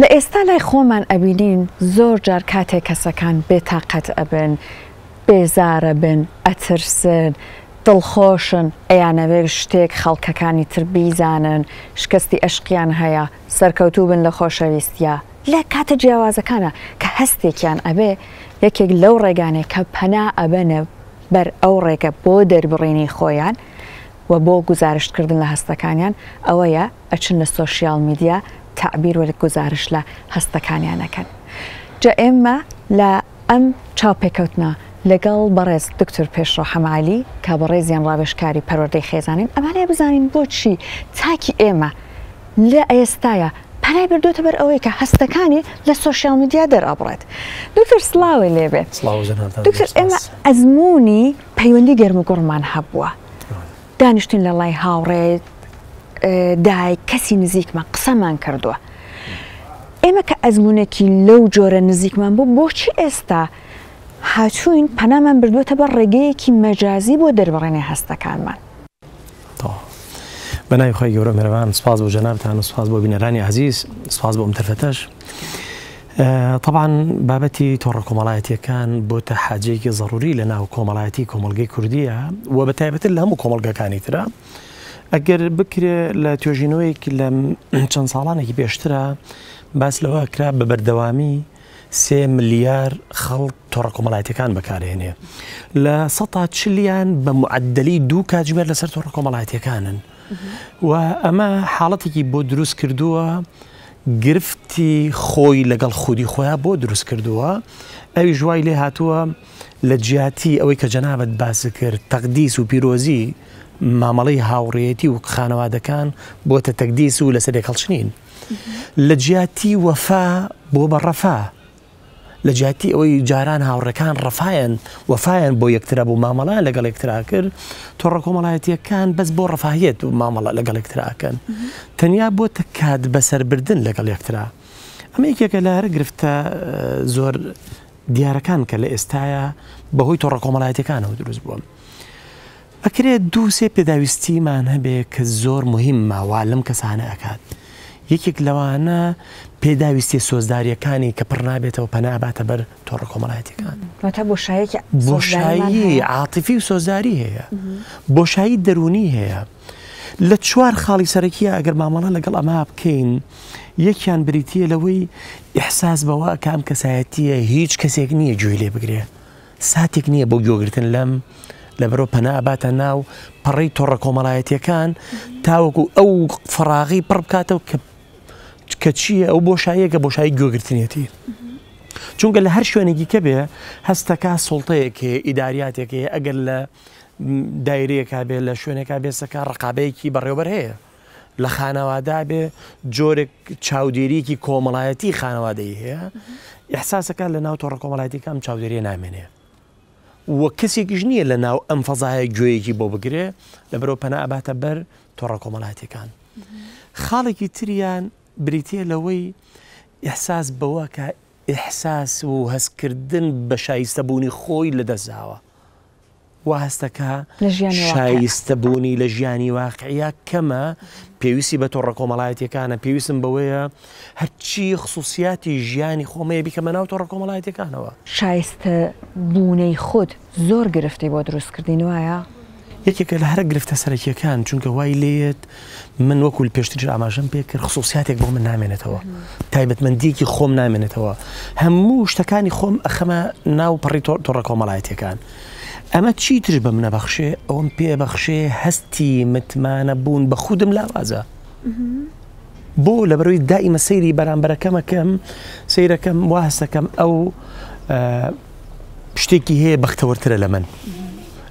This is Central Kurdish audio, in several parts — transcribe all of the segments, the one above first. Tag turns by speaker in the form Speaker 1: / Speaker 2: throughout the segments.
Speaker 1: لە ئێستا لای خۆمان ئەبینین زۆر جار کاتێک کەسەکان بێ تاقەت ئەبن، بێزارەبن، ئەترسن، دڵخۆشن، ئەیانەوێ شتێک خەڵکەکانی تر بیزانن، شکەستی ئەشقیان هەیە، سەرکەوتووبن لە خۆشەویستیا، لە کاتە جیاوازەکانا کە هەستێکیان ئەبێ، یەکێک لەو ڕێگانەی کە پەنا ئەبەنە بەر ئەو ڕێگە بۆ دەربڕینی خۆیان و بۆ گوزارشتکردن لە هەستەکانیان ئەوەیە، ئەچن لە سۆشیال میدیا تەعبیر و گوزارش لە هەستەکانیان ئەکەن جا ئێمە لە ئەم چاوپێکەوتنە لەگەڵ بەڕێز دکتور پێشڕە حەمەعەلی کە بەڕێزیان ڕاوێژکاری پەروەردەی خێزانین ئەمانەیە بزانین بۆچی تاکی ئێمە لە ئێستایا پەنای بردوێتە بەر ئەوەی کە هەستەکانی لە سۆشیال میدیا دەرابڕێت دکتور سلاوی لێبێت دکتور ئێمە ئەزمموی پەیوەندی گەرم و گوڕمان هەبووە. دانیشتن لە ڵای هاوڕێ دایک کەسی نزیکمە قسەمان کردووە ئێمە کە ئەزمونونەکی لەو جۆرە نزیکمان بوو بۆچی ئێستا هاتوین پەنامان بردوێتە بە ڕێگەیەکی مەجازی بۆ دەربڕێنێ هەستەکانمان
Speaker 2: بەناوی خۆی گەورە مەرەوان سپاس بۆ جەنابان و سپاس بۆ بینەرانی عزیز سپاس بۆم تەرفەتەش. تەبعەن بابەتی تۆڕە کۆمەڵایەتیەکان بۆتە حاجەیەکی زەڕوری لە ناو کۆمەڵایەتی کۆمەڵگەی کوردیە و بە تایبەتر لە هەموو کۆمەڵگەکانی ترە ئەگەر بکرێ لە توێژینەوەیەک لە چەند ساڵانێکی پێشترە باس لەوە کرا بە بەردەوامی سێ ملیار خەڵک تۆڕە کۆمەڵایەتەکان بەکارهێنێ لە سە چلیان بە معدلی دوو کاتژمێر لەسەر تۆڕە کۆمەڵایەتەکانن و ئەمە حاڵەتێکی بۆ دروست کردووە گرفتی خۆی لەگەڵ خودی خۆیان بۆ دروست کردووە ئەویش وای لێ هاتووە لە جیاتی ئەوەی کە جەنابەت باس کرد تەقدیس و پیرۆزی مامەڵی هاوڕێتی و خانەوادەکان بۆتە تەکدیس و لەسەر لێکەڵچنین لە جیاتی وەفا بۆ بە ڕەفا لە جیاتی ئەوەی جاران هاوڕێکان ڕەفایان وەفایان بۆ یەکترا بوو مامەڵیان لەگەڵ یەکترا کرد تۆڕە کۆمەڵایەتیەکان بەس بۆ ڕەفاهیت و مامەڵە لەگەڵ یەکتراکەن تەنیا بۆ تکات بەسەربردن لەگەڵ یەکترا ئەمە یەکێکە لە هەر گرفتە زۆر دیارەکان کە لە ئێستاە بەهۆی تۆڕە کۆمەڵایەتەکانەوە دروست بووە. ئەکرێ دوو سێ پێداویستیمان هەبێ کە زۆر موهیممە وا لەم کەسانە ئەکات یەکێک لەوانە پێداویستیە سۆزداریەکانی کە پڕ نابێتەوە پەنا ئەباتە بەر تۆڕە کۆمەڵایەتیەکان واتە بۆشایەکی بۆشایی عاتیفی و سۆزداری هەیە بۆشایی دەرونی هەیە لە چوار خاڵی سەرەکیە ئەگەر مامەڵە لەگەڵ ئەما بکەین یەکیان بریتە لەوەی ئحساس بەوە کام کەسایەتیە هیچ کەسێک نییە گوێی لێ بگرێ ساتێک نییە بۆ گوێگرتن لەم لەبەرەوە پەنا ئەباتە ناو پەڕی تۆڕە کۆمەڵایەتیەکان تاوەکو ئەو فراغی پڕ بکاتەوە کە کە چییە ئەو بۆشاییەکە بۆشایی گوێگرتنیەتی چونکە لە هەر شوێنێکی کە بێ هەستەکە سڵتەیەک هەیە ئیداریاتێک هەیە ئەگەر لە دایرەیەکا بێ لە شوێنێکا بێسەکە ڕقابەیەکی بەڕێوبەر هەیە لە خانەوادا بێ جۆرێک چاودێریەکی کۆمەڵایەتی خانەوادەی هەیە ئحساسەکە لە ناو تۆڕە کۆمەڵایەتیکەم چاودێریە نامێنێ وە کەسێکیش نییە لە ناو ئەم فەزایە گوێیەکی بۆ بگرێ لە بەرەو پەناباتە بەر تۆڕە کۆمەڵاتەکان خاڵێکی تریان بریتە لەوەی ئحساس بەوە کە ئحساس و هەستکردن بە شایستەبوونی خۆی لە دەستاوە وا هەستەکا شایستە بوونی لە ژیانی واقعە کەمە پێویستی بە تۆڕە کۆمەڵایەتەکانە پێویستم بەوەیە هەرچی خصوصیاتی ژیانی خۆمەیە بیکەمە ناو تۆڕە کۆمەڵایەتەکانەوە شایستە
Speaker 1: بوونەی خۆت زۆر گرفتی بۆ دروستکردین وایە یەکێکە لە هەرە
Speaker 2: گرفتە سەرەکیەکان چونکە وای لێت من وەکو پێشتریش ئاماژەم پێ کرد خصوصیاتێک بۆ من نامێنێتەوە تایبەتمەندیەکی خۆم نامێنێتەوە هەموو شتەکانی خۆم ئەخەمە ناو پەڕی تۆڕە کۆمەڵایەتەکان ئەمە چی تر بە منە بەخشێ ئەوم پێ بەخشێ هەستی متمانە بوون بە خودم لاوازە بۆ لە بەروی دائیمە سەیری بەرامبەرەکەمەکەم سیرەکەم وا هەستەکەم ئەو شتێکی هەیە بەختەوەرترە لە من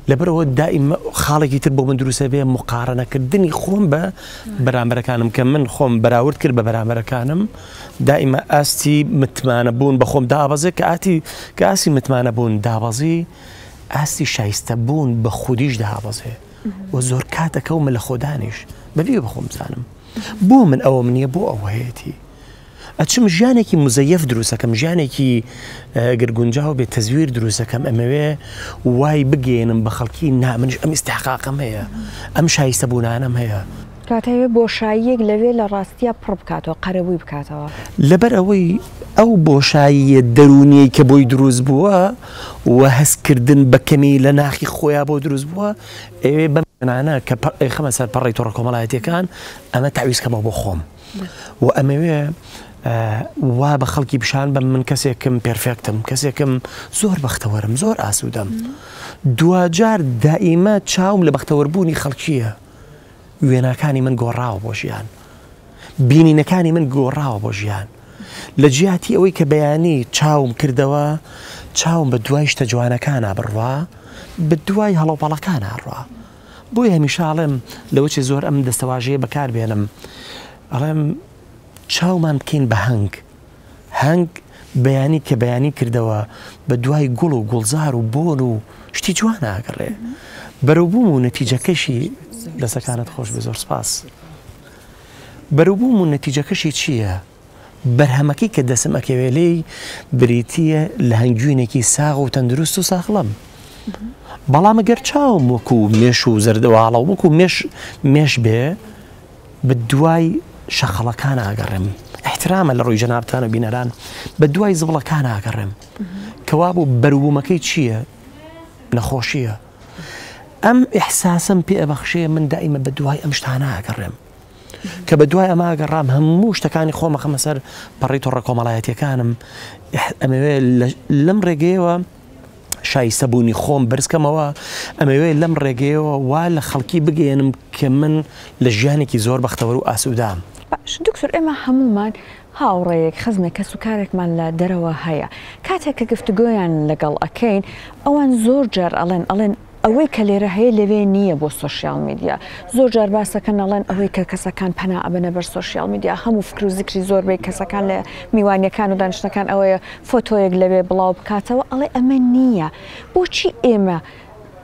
Speaker 2: لەبەرەوە دائیم خاڵێکی تر بۆ من دروستە بێ مقارنەکردنی خۆم بە بەرامبەرەکانم کە من خۆم بەراورد کرد بە بەرامبەرەکانم دائیمە ئاستی متمانە بوون بە خۆم دابەزێک کە ئاتی کاسی متمانە بوون دابەزی ئاستی شایستە بوون بە خودیش دابەزێ و زۆر کاتەکەومە لە خۆدانیش بەبی بە خۆم بزانم بۆ من ئەوە منە بۆ ئەوەیەتی ئەچم ژیانێکی مزەیەف دروستەکەم ژیانێکی گەر گونجاو بێت تەزویر دروستەکەم ئەمەوێ وای بگەێنم بە خەڵکی نامنش ئەم ئستحقاقم هەیە ئەم شایستە بوونانم هەیە کاتەوێ
Speaker 1: بۆشاییەک لەوێ لە ڕاستیە پڕ بکاتەوە قەرەبووی بکاتەوە لەبەر ئەوەی
Speaker 2: ئەو بۆشاییە دەرونیە کە بۆی دروست بووە و هەستکردن بە کەمی لە ناخی خۆیان بۆ دروست بووە ئەوێ بەم نانە کە خەمە سەر پەڕی تۆڕە کۆمەڵایەتەکان ئەمە تاویزکەمەوە بۆ خۆم. و ئەمەوێ وا بە خەڵکی پیشان بەم من کەسێکم پێرفێکتم کەسێکم زۆر بەختەوەرم زۆر ئاسوودەم دواجار دائیمە چاوم لە بەختەوەربوونی خەڵکیە وێناکانی من گۆڕاوە بۆ ژیان بینینەکانی من گۆڕاوە بۆ ژیان لە جیاتی ئەوەی کە بەیانی چاوم کردەوە چاوم بە دوای شتە جوانەکانە بڕوا بە دوای هەڵەوپەڵەکانە ڕوا بۆیە هەمیشە ئەڵێم لەوەچێ زۆر ئەم دەستەواژەیە بەکار بێنم ئەڵێم چاومان بکەین بە هەنگ هەنگ بەیانی کە بەیانی کردەوە بە دوای گوڵ و گوڵزار و بۆن و شتی جوان ئاگەڕێ بەرەوبووم و نەتیجەکەشی دەسەکانت خۆش بێ زۆر سپاس بەرەوبووم و نەتیجەکەشی چییە؟ بەرهەمەکەی کە دەسم ئەکەوێ لێی بریتییە لە هەنگوینێکی ساغ و تەندروست و ساخڵەم. بەڵام گەر چاوم وەکو مێش و زەردەواڵە وەکو مێش مێش بێ بە دوای شەقەڵەکان ئاگەڕێم احترامە لە ڕووی جەنابان و بینەران بە دوای زبڵەکان ئاگەڕێم کەوا بوو بەروومەکەی چییە نەخۆشیە ئەم احساسم پێ بەخشەیە من دائیمە بە دوای ئەم شتانە ئاگەڕێم کە بە دوای ئەمە گەڕام هەموو شتەکانی خۆمە خەمە سەر پەڕی تۆڕە کۆمەڵایەتەکانم ئەمەوێ لەم ڕێگەیەوە شایستە بوونی خۆم بەرزکەمەوە ئەمەوێ لەم ڕێگەیەوە وا لە خەڵکی بگەێنم کە من لە ژیانێکی زۆر بەختەوەر و ئاسوودام. باش دکتور ئێمە
Speaker 1: هەمومان هاوڕێیەک خزمێک کەس و کارێکمان لە دەرەوە هەیە کاتێک کە گفتوگۆیان لەگەڵ ئەکەین ئەوان زۆر جار ئەڵێن ئەڵێن ئەوەی کە لێرە هەیە لەوێ نییە بۆ سۆشیال میدیا زۆر جار باسەکەن ئەڵێن ئەوەی کە کەسەکان پەنا ئەبەنە بەر سۆشیال میدیا هەموو فکر و زیکری زۆربەی کەسەکان لە میوانیەکان و دانیشتنەکان ئەوەیە فۆتۆیەک لەوێ بڵاو بکاتەوە ئەڵێ ئەمە نییە بۆچی ئێمە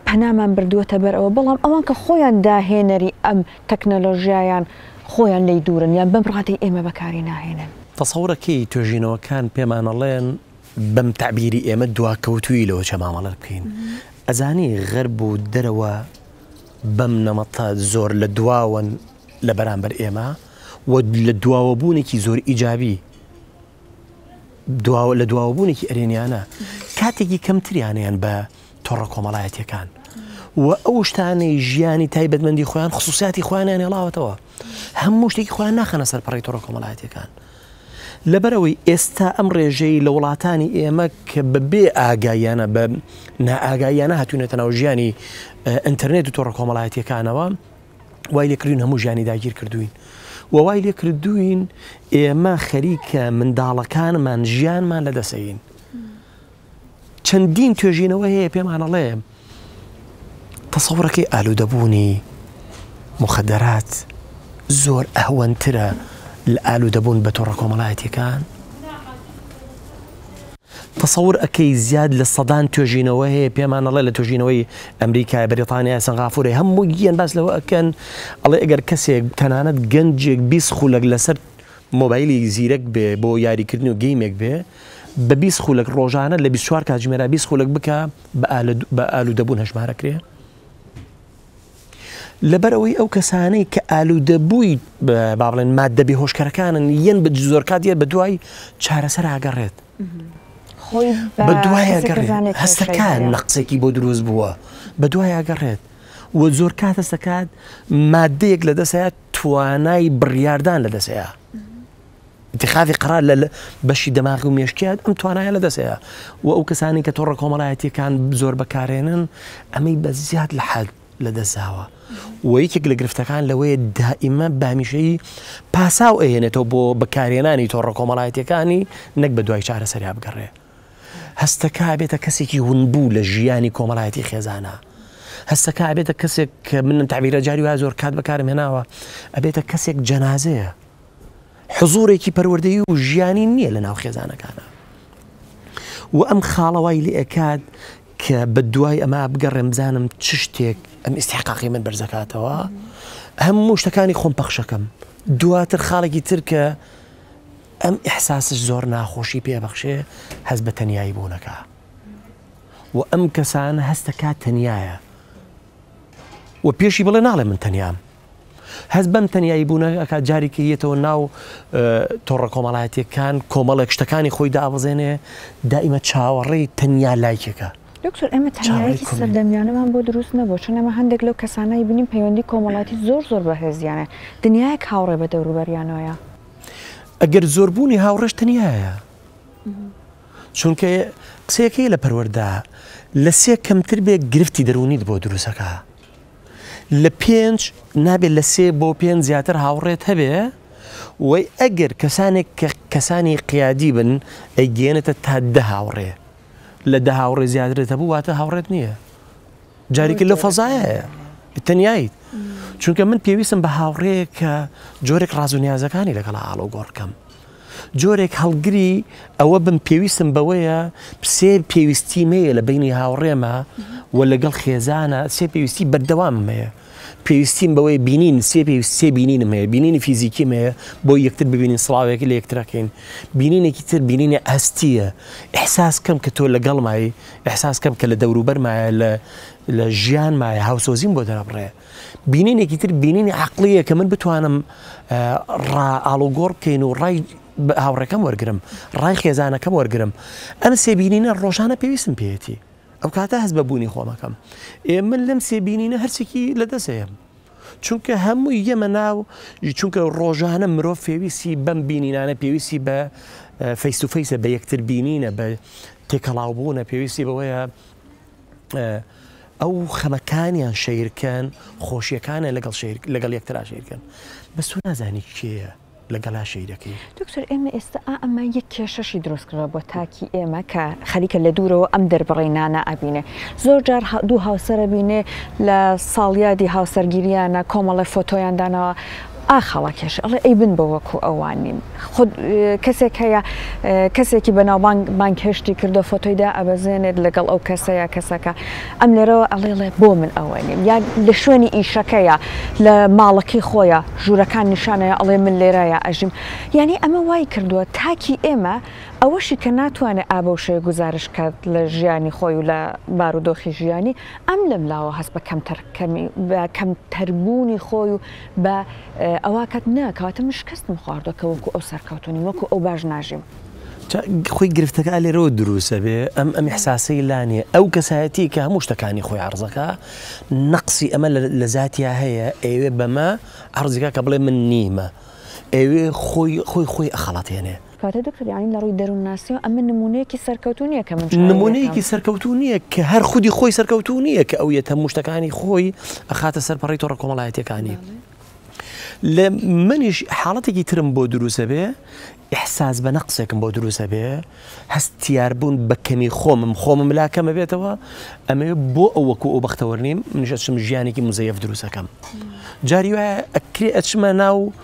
Speaker 1: پەنامان بردووەتە بەر ئەوە بەڵام ئەوان کە خۆیان داهێنەری ئەم تەکنەلۆژیایان خۆیان لی دوورن یان بەم ڕادەی ئێمە بەکاری ناهێنن. تەسەورە کەی
Speaker 2: توێژینەوەکان پێمانەڵێن بەم تەعبیری ئێمە دواکەوتووی لەوە چە مامەڵە بکەین ئەزانی غەرب و دەرەوە بەم نەمەتە زۆر لە دواوەن لە بەرامبەر ئێمە و لە دواوەبوونێکی زۆر ئیجابی دواوە لە دواوەبوونێکی ئەرێنیانە کاتێکی کەمتریانیان بە تۆڕە کۆمەڵایەتەکان و ئەو شتانەی ژیانی تایبەتمەندی خۆیان خصوصیاتی خوانیان هێڵاوەتەوە هەموو شتێکی خۆیان ناخەنە سەر پەڕی تۆڕە کۆمەڵایەتەکان لەبەر ئەوەی ئێستا ئەم ڕێژەی لە وڵاتانی ئێمە کە بە بێ ئاگایانە بە نائاگایانە هاتوونێتە ناو ژیانی ئەتەرنێت و تۆڕە کۆمەڵایەتەکانەوە وای لێکردوین هەموو ژیانی داگیر کردوین و وای لێکردوین ئێمە خەریکە منداڵەکانمان ژیانمان لە دەسەین چەندین توێژینەوە هەیە پێمانەڵێ تەسەڕەکەی ئالوودەبوونی مخدرات زۆر ئەهوەنترە لە ئالوودەبوون بە تۆڕە کۆمەڵایەتەکان تەسەور ئەەکەی زیاد لە سەدان توێژینەوە هەیە پێمانەڵێ لە توژینەوەی ئەمریکای بریتانیا سەنغافورەی هەموو گیان باس لەوە ئەکەن ئەڵێ ئەگەر کەسێک تەنانەت گەنجێک بیست خولەک لەسەر مۆبایلی زیرەک بێ بۆ یاریکردن و گەیمێک بێ بە بیست خولەک ڕۆژانە لە بیست و چوار کاتژمێرا بیست خولەک بکە بە ئالوودەبوون هەژمارەکرێ لەبەرەوەی ئەو کەسانەی کە ئالوودەبووی با بڵێن مادەبی هۆشکەرەکانن یەن بە زۆر کات یە بە دوای چارەسەر ئاگەڕێت خۆی بە دوای هەستەکان لە قسێکی بۆ دروست بووە بە دوای ئاگەڕێت و زۆر کات هەستەکات مادەیەک لە دەسەیە توانای بڕیاردان لە دەسەیە. ئیتیخاذی قەرار لە بەشی دەماغ و مێشکیان ئەم توانایە لە دەسەیە و ئەو کەسانی کە تۆڕە کۆمەڵایەتیەکان زۆر بەکارێنن ئەمەی بە زیاد لە حەد لە دەستزاوە و یەکێک لە گرفتەکان لەوەیە دائیمە بامیشەی پاساو ئەهێنێتەوە بۆ بەکارێنانی تۆڕە کۆمەڵایەتەکانی نەک بە دوای چارە سەریا بگەڕێ هەستەکە بێتە کەسێکی هونبوو لە ژیانی کۆمەڵایەتی خێزانە هەستەکە بێتە کەسێک کە من تابیرە جاری وا زۆر کات بەکارم هێناوە ئەبێتە کەسێک جەنازەیە حزورێکی پەروەردەیی و ژیانی نییە لە ناو خێزانەکانە و ئەم خاڵەوای لە ئەکات کە بە دوای ئەمە بگەڕێم بزانم چ شتێک ئەم ئیسحقاقی من بەرزەکاتەوە هەموو شتەکانی خۆم پەخشەکەم دواتر خاڵێکی تر کە ئەم ئحساسش زۆر ناخۆشی پێبەخشێ هەز بە تەنایی بوونەکە و ئەم کەسان هەستەکە تەنایە و پێشی بڵێ ناڵێ من تەنیام هەست بەم تەنیایی بوونە ئەکات جارێکی یەتەوە ناو تۆڕە کۆمەڵایەتیەکان کۆمەڵێک شتەکانی خۆی دابزێنێ دائیمە چاوەڕێی تەنیا لایکێکە دکتۆر ئەمە
Speaker 1: تەنیایەکی سەردەمیانەمان بۆ دروست نەبوو چون ئەمە هەندێک لەو کەسانایی بینیم پەیوەندی کۆمەڵاتی زۆر زۆر بەهێزیانە دنیایەک هاوڕێ بە دەوروبەریانەوەە ئەگەر
Speaker 2: زۆربوونی هاوڕێش تەنیایە چونکە قسەکەی لە پەروەەردا لە سێ کەمتر بێ گرفتی دەرونیت بۆ دروستەکە لە پێنج نابێت لە سێ بۆ پێنج زیاتر هاوڕێت هەبێ وی ئەگەر کەسانێک کە کەسانی قیادی بن ئەیگەێنێتە تا دە هاوڕێ لە دە هاوڕێ زیاترێت هەبوو واتە هاوڕێت نییە جارێکی لە فەزایە تەنیاییت چونکە من پێویستم بە هاوڕێ کە جۆرێک ڕازونیازەکانی لەگەڵ ئاڵۆ گۆڕکەم جۆرێک هەڵگری ئەوە بم پێویستم بەوەیە سێ پێویستی مەیە لە بینی هاوڕێمە و لەگەڵ خێزانە سێ پێویستی بەردەوام مەیە پێویستیم بەوەی بینین سێ پێویست سێ بینینم هەیە بینینی فیزیکی مەیە بۆ یەکتر ببینین سڵاوێک لە یەکترەکەین بینینێکی تر بینینە ئەستیە احساس کەم کە تۆ لەگەڵ مای احساس کەم کە لە دەوروبەر مایە لە لە ژیان مایە هاوسۆزیم بۆ دەرەبڕێ بینینێکی تر بینینی عقلیە کە من بتوانم ڕا ئاڵوگۆڕ بکەین و ڕای هاوڕێکەم وەرگرم ڕای خێزانەکەم وەرگرم ئەم سێبینینە ڕۆژانە پێویستم پێێتی ئەو کاتە هەست بە بوونی خۆمەکەم ئێ من لەم سێبینینە هەرچێکی لە دەسەیە چونکە هەموو یەمە ناو چونکە ڕۆژانە مرۆڤ پێویستی بەم بینینانە پێویستی بە فەیسوفەیسە بە یەکتر بینینە بە تێکەڵاوبوونە پێویستی بەوەیە ئەو خەمەکانیان شەیرکەن خۆشیەکانە لەگەڵ لەگەڵ یەکترا شەیرکەن بە سو نازانی کێە لەگەڵا شەیرەکەی دکتۆر ئێمە ئێستا
Speaker 1: ئەمە یەک کێشەشی دروستکرا بۆ تاکی ئێمە کە خەریکە لە دوورەوە ئەم دەربڕی نانا ئەبینێ زۆر جار دوو هاوسەرە بینێ لە ساڵیادی هاوسەرگیریانە کۆمەڵی فۆتۆیان داناوە ئاخ هەڵەکێش ئەڵێ ئەی بن بە وەکو ئەوان نیم خود کەسێک هەیە کەسێکی بەناوبانگ بانگهێشتی کردو فۆتۆی دا ئەبەزێنێت لەگەڵ ئەو کەسەیە کەسەکە ئەم لێرەوە ئەڵێڵێ بۆ من ئەوە نیم یا لە شوێنی ئیشەکەیە لە ماڵەکەی خۆیە ژوورەکان نیشانەیە ئەڵێ من لێرایە ئەژیم یعنی ئەمە وای کردووە تاکی ئێمە ئەوەشی کە ناتوانێت ئابەوشەیە گوزارش کات لە ژیانی خۆی و لە بارودۆخی ژیانی ئەم لەم لاوە هەست بە کەمتەر کەمی کەمتەربوونی خۆی و بە ئەوا کەت نا کەواتە من شکستم خواردوە کە وەکو ئەو سەرکەوتو نیم وەکو ئەو باش ناژیم. جا خۆی
Speaker 2: گرفتەکە لێرەوە دروست ئەبێ ئەم ئەم ئیحساسەی لا نیە ئەو کەسایەتی کە هەموو شتەکانی خۆی عەڕز ئەکا نەقسی ئەمە لە زاتیا هەیە ئەیەوێ بەمە عەڕزی کا کە بڵێ من نیمە ئەیەوێ خۆی خۆی خۆی ئەخەڵەتێنێ. کاتێ دکتۆر یانی
Speaker 1: لە ڕووی دەروونناسیەوە ئەمە نموونەیەکی سەرکەوتوو نیە کە من چاوی لێکەم. نموونەیەکی سەرکەوتوو
Speaker 2: نیە کە هەر خودی خۆی سەرکەوتوو نیە کە ئەو یەت هەموو شتەکانی خۆی ئەخاتە سەر پەڕەی تۆڕە کۆمەڵایەتیەکانی. لە منیش حاڵەتێکی ترم بۆ دروست ئەبێ ئیحساس بە نەقسێکم بۆ دروست ئەبێ هەستیار بوون بە کەمی خۆمم خۆمم لا کەمە بێتەوە ئەمێ بۆ ئەو وەکو ئەو بەختەوەر نیم منیش ئەچم ژیانێکی مزەیەف دروستەکەم جاری وایە ئەکرێ ئەچمە ناو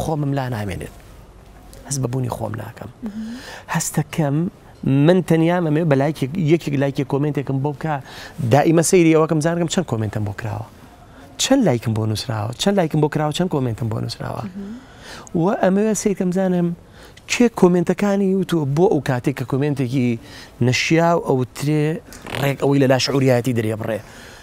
Speaker 2: خۆمم لا نامێنێت هەست بە بوونی خۆم ناکەم هەستەکەم من تەنیا مەمێ بە لایک یەکێک لایکی کۆمنتێکم بۆ بکە دائیمە سەیری ئەوەکەم زانگەم چەند کۆمنتم بۆ کراوە چەند لایکم بۆ نووسراوە چەند لایکم بۆ کراوە چەند کۆمنتم بۆ نووسراوە و ئەمەوێ سیرکەم زانم کێ کۆمنتەکانی وتوە بۆ ئەو کاتێک کە کۆمنتێکی نەشیا و ئەوترێ ڕێک ئەوەی لە لاش عوریاتی دەرێ بڕێ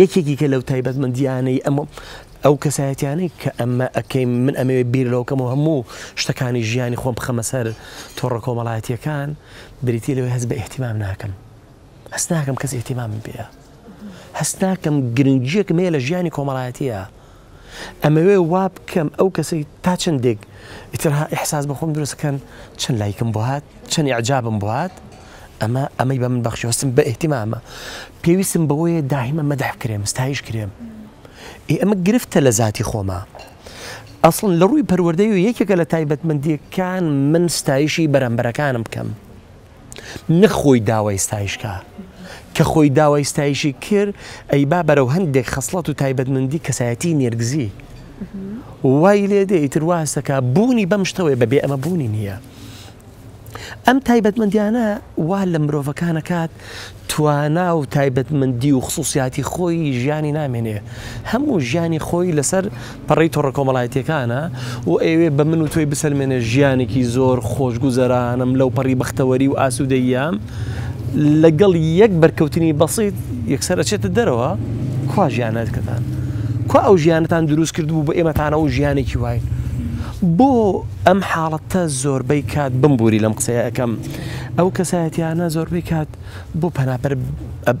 Speaker 2: یەکێکی کە لەو تایبەتمەندیانەی ئەم ئەو کەسایەتیانەی کە ئەمە ئەەکەین من ئەمەوێ بیر لەوکەم و هەموو شتەکانی ژیانی خۆم بخەمە سەر تۆڕە کۆمەڵایەتیەکان بریتی لەوەی هەز بە احتیمام ناکەم هەست ناکەم کەس احتیمام پێە هەست ناکەم گرنگیەکم هەیە لە ژیانی کۆمەڵایەتە ئەمەوێ وا بکەم ئەو کەسەی تا چەندێک ئیتر ها ئیحساس بە خۆم دروست کەن چەند لایکم بۆ هات چەند ئیعجابم بۆ هات ئەمە ئەمەی بە من بەخشیوەستم بە ئیهتیمامە پێویستم بەوەیە داهیمە مەدح کرێم ستایش کرێم ئێ ئەمە گرفتە لە ذاتی خۆما ئەسڵن لە ڕووی پەروەردەی و یەکێکە لە تایبەتمەندیەکان من ستایشی بەرامبەرەکانم بکەم نەک خۆی داوای ستایشکە کە خۆی داوای ستایشی کرد ئەی با بەرەو هەندێک خەسڵەت و تایبەتمەندی کەسایەتی نێرگزی وای لێ دێ ئیتر واستەکە بوونی بەم شتەوەی بەبێ ئەمە بوونی نییە ئەم تایبەتمەندیانە وا لە مرۆڤەکانەکات توانا و تایبەتمەندی و خسووسیاتی خۆی ژیانی نامێنێ، هەموو ژیانی خۆی لەسەر پەڕەی تۆڕە کۆمەڵایەتییەکانە و ئەیەوێ بە من و تۆی بسەلمێنێ ژیانێکی زۆر خۆشگوزەرانم، لەوپەڕی بەختەوەری و ئاسوودەییام لەگەڵ یەک بەرکەوتنی بەسیت یەکسەر ئەچێتە دەرەوە، کوا ژیانەکەتان؟ کوا ئەو ژیانەتان درووست کردبوو بۆ ئێمەتانەوە ژیانێکی وای؟ بۆ ئەم حاڵەتە زۆربەی کات بمبووری لەم قسەیە ئەکەم. ئەو کەسایەتیانە زۆربەی کات بۆ پەنابەر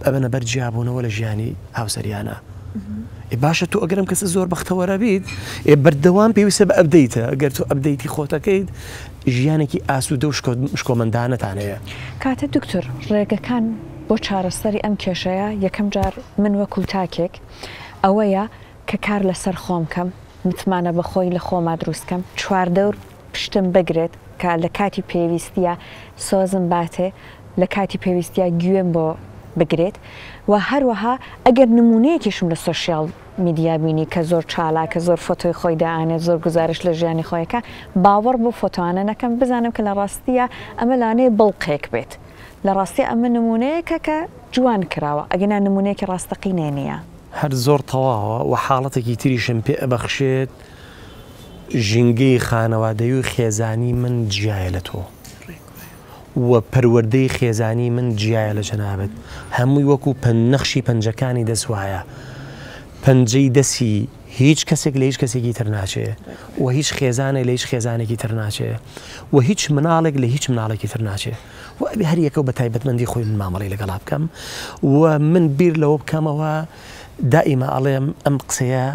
Speaker 2: ئەبەنە بەر جیابوونەوە لە ژیانی هاوسەریانە ئێ باشە تۆ ئەگەرم کەسە زۆر بەختەوەرە بیت ئێ بەردەوام پێویستە بە ئەبدەیتە ئەگەر تۆ ئەبدەیتی خۆتەکەیت ژیانێکی ئاسوودە و شکۆمەندانەتان هەیە کاتە
Speaker 1: دکتۆر ڕێگەکان بۆ چارەسەری ئەم کێشەیە یەکەم جار من وەکو تاکێک ئەوەیە کە کار لەسەر خۆم کەم متمانە بەخۆی لە خۆما دروستکەم چواردەور پشتم بگرێت کە لە کاتی پێویستیا سۆزم باتێ، لە کاتی پێویستیا گوێم بۆ بگرێت و هەروەها ئەگەر نموونەیەکیشم لە سۆشیال میدیا بینی کە زۆر چالاکە، زۆر فۆتۆی خۆی دائەنێت، زۆر گوزارشت لە ژیانی خۆی ئەکا، باوەڕ بەو فۆتۆانە نەکەم، بزانم کە لە ڕاستیا ئەمە لانەیە بڵقێک بێت، لە ڕاستیا ئەمە نموونەیەکە کە جوان کراوە، ئەگینا نموونەیەکی ڕاستەقینەی نییە. هەر زۆر
Speaker 2: تەواوە و حاڵەتێکی تریشم پێ ئەبەخشێت ژینگەی خانەوادەیی و خێزانی من جیایە لە تۆ و پەروەردەی خێزانی من جیایە لە جەنابت هەمووی وەکو پەن نەخشی پەنجەکانی دەست وایە پەنجەی دەسی هیچ کەسێک لە هیچ کەسێکی تر ناچێ و هیچ خێزانێک لە هیچ خێزانێکی تر ناچێ و هیچ مناڵێک لە هیچ مناڵێکی تر ناچێ و ئەبێ هەر یەکە بە تایبەتمەندی خۆی من مامەڵی لەگەڵا بکەم و من بیر لەوە بکەمەوە دائیمە ئەڵێم ئەم قسەیە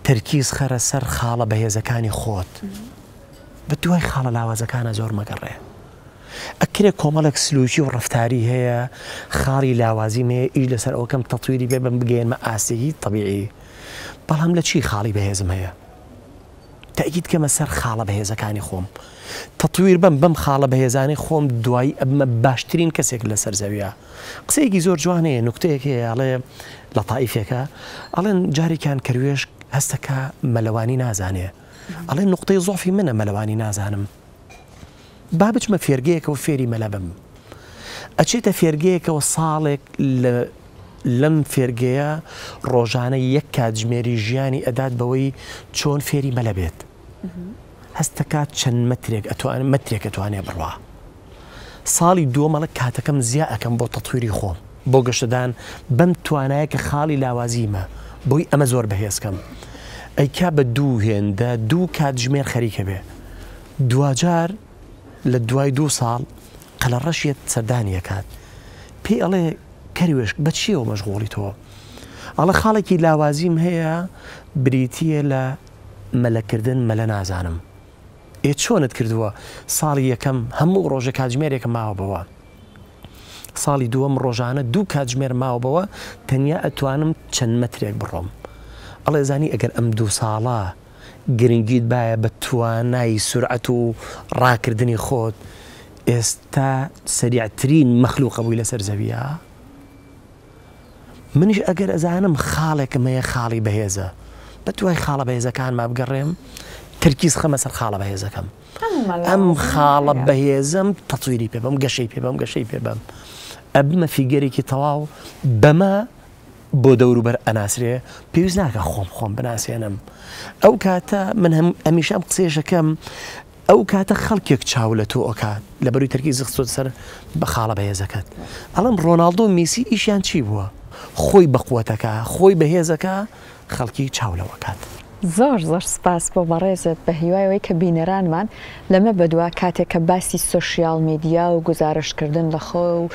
Speaker 2: تەرکیز خەرە سەر خاڵە بەهێزەکانی خۆت بە دوای خاڵە لاوازەکانە زۆر مەگەڕێ ئەکرێ کۆمەڵێک سلوکی و ڕفتاری هەیە خاڵی لاوازی نەیە ئیش لەسەر ئەوکەم تەتویری بێ بم بگەێنمە ئاسیی طببیعی بەڵام لە چی خاڵی بەهێزم هەیە تەئکید کەمە سەر خاڵە بەهێزەکانی خۆم تەتویر بەم بەم خاڵە بەهێزانەی خۆم دوایی ئەبمە باشترین کەسێک لەسەر زەویە قسەیەکی زۆر جوان هەیە نوکتەیەک هەیە ئەڵێ لە تائیفێکە ئەڵێن جارێکیان کەروێشک هەستەکە مەلەوانی نازانێ ئەڵێ نوقتەی زۆفی منە مەلەوانی نازانم با بچمە فێرگەیەکەوە فێری مەلا بم. ئەچێتە فێرگەیەکەوە ساڵێک لەم فێرگەیە ڕۆژانە یەک کاتژمێری ژیانی ئەدات بەوەی چۆن فێری مەلە بێت. هەستەکات چەند مەترێک ئەتوان مەترێک ئەتوانێ بڕوا. ساڵی دووەمەڵک کاتەکەم زیاکەم بۆ تەتویری خۆم. بۆ گەشەدان بەم توانایە کە خاڵی لاوازیمە بۆی ئەمە زۆر بەهێز کەم ئەیکا بە دوو هێندە دوو کاتژمێر خەریکە بێ دواجار لە دوای دوو ساڵ قەلە ڕەشێت سەردانیەکات پێی ئەڵێ کەروێشک بە چیەوە مەشغۆڵی تۆ ئەڵە خاڵێکی لاوازیم هەیە بریتە لە مەلەکردن مەلە نازانم ئێ چۆنت کردووە ساڵی یەکەم هەموو ڕۆژە کاتژمێرێکە ماوە بەوە ساڵی دووەم ڕۆژانە دوو کاتژمێر ماوبەوە تەنیا ئەتوانم چەند مەترێک بڕۆم ئەڵێ زانی ئەگەر ئەم دوو ساڵە گرنگیت بایە بە توانای سورعەت و ڕاکردنی خۆت ئێستا سەریعترین مەخلوقە بووی لەسەر زەویە منیش ئەگەر ئەزانم خاڵێکم هەیە خاڵی بەهێزە بە دوای خاڵە بەهێزەکانما بگەڕێم تەرکیز خەمە سەر خاڵە بەهێزەکەم ئەم خاڵە بەهێزەم تەتویری پێ بەم گەشەی پێ بەم گەشەی پێ بەم ئەبمە فیگەرێکی تەواو بەمە بۆ دەوروبەر ئەناسرێ پێویست ناکە خۆم خۆم بناسێنم ئەو کاتە من هەم ئەمیشەم قسێشەکەم ئەو کاتە خەڵکێک چاو لە تۆ ئۆکات لە بەروی تەرکی زخسۆت سەر بە خاڵە بەهێزەکەت ئەڵم ڕۆناالدۆ میسی ئیشیان چی بووە خۆی بەقوتەکە خۆی بەهێزەکە خەڵکی چاو لەوە کات. زۆر زۆر
Speaker 1: سپاس بۆ بەڕێزت بە هیوای ئەوەی کە بینەرانمان لەمە بەدوا کاتێک کە باسی سۆشیال میدیا و گوزارشت کردن لە خۆ و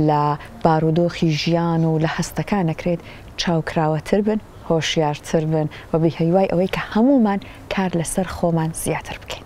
Speaker 1: لە بارودۆخی ژیان و لە هەستەکان ئەکرێت چاو کراوەتر بن هۆشیارتر بن و بە هیوای ئەوەی کە هەموومان کار لەسەر خۆمان زیاتر بکەین.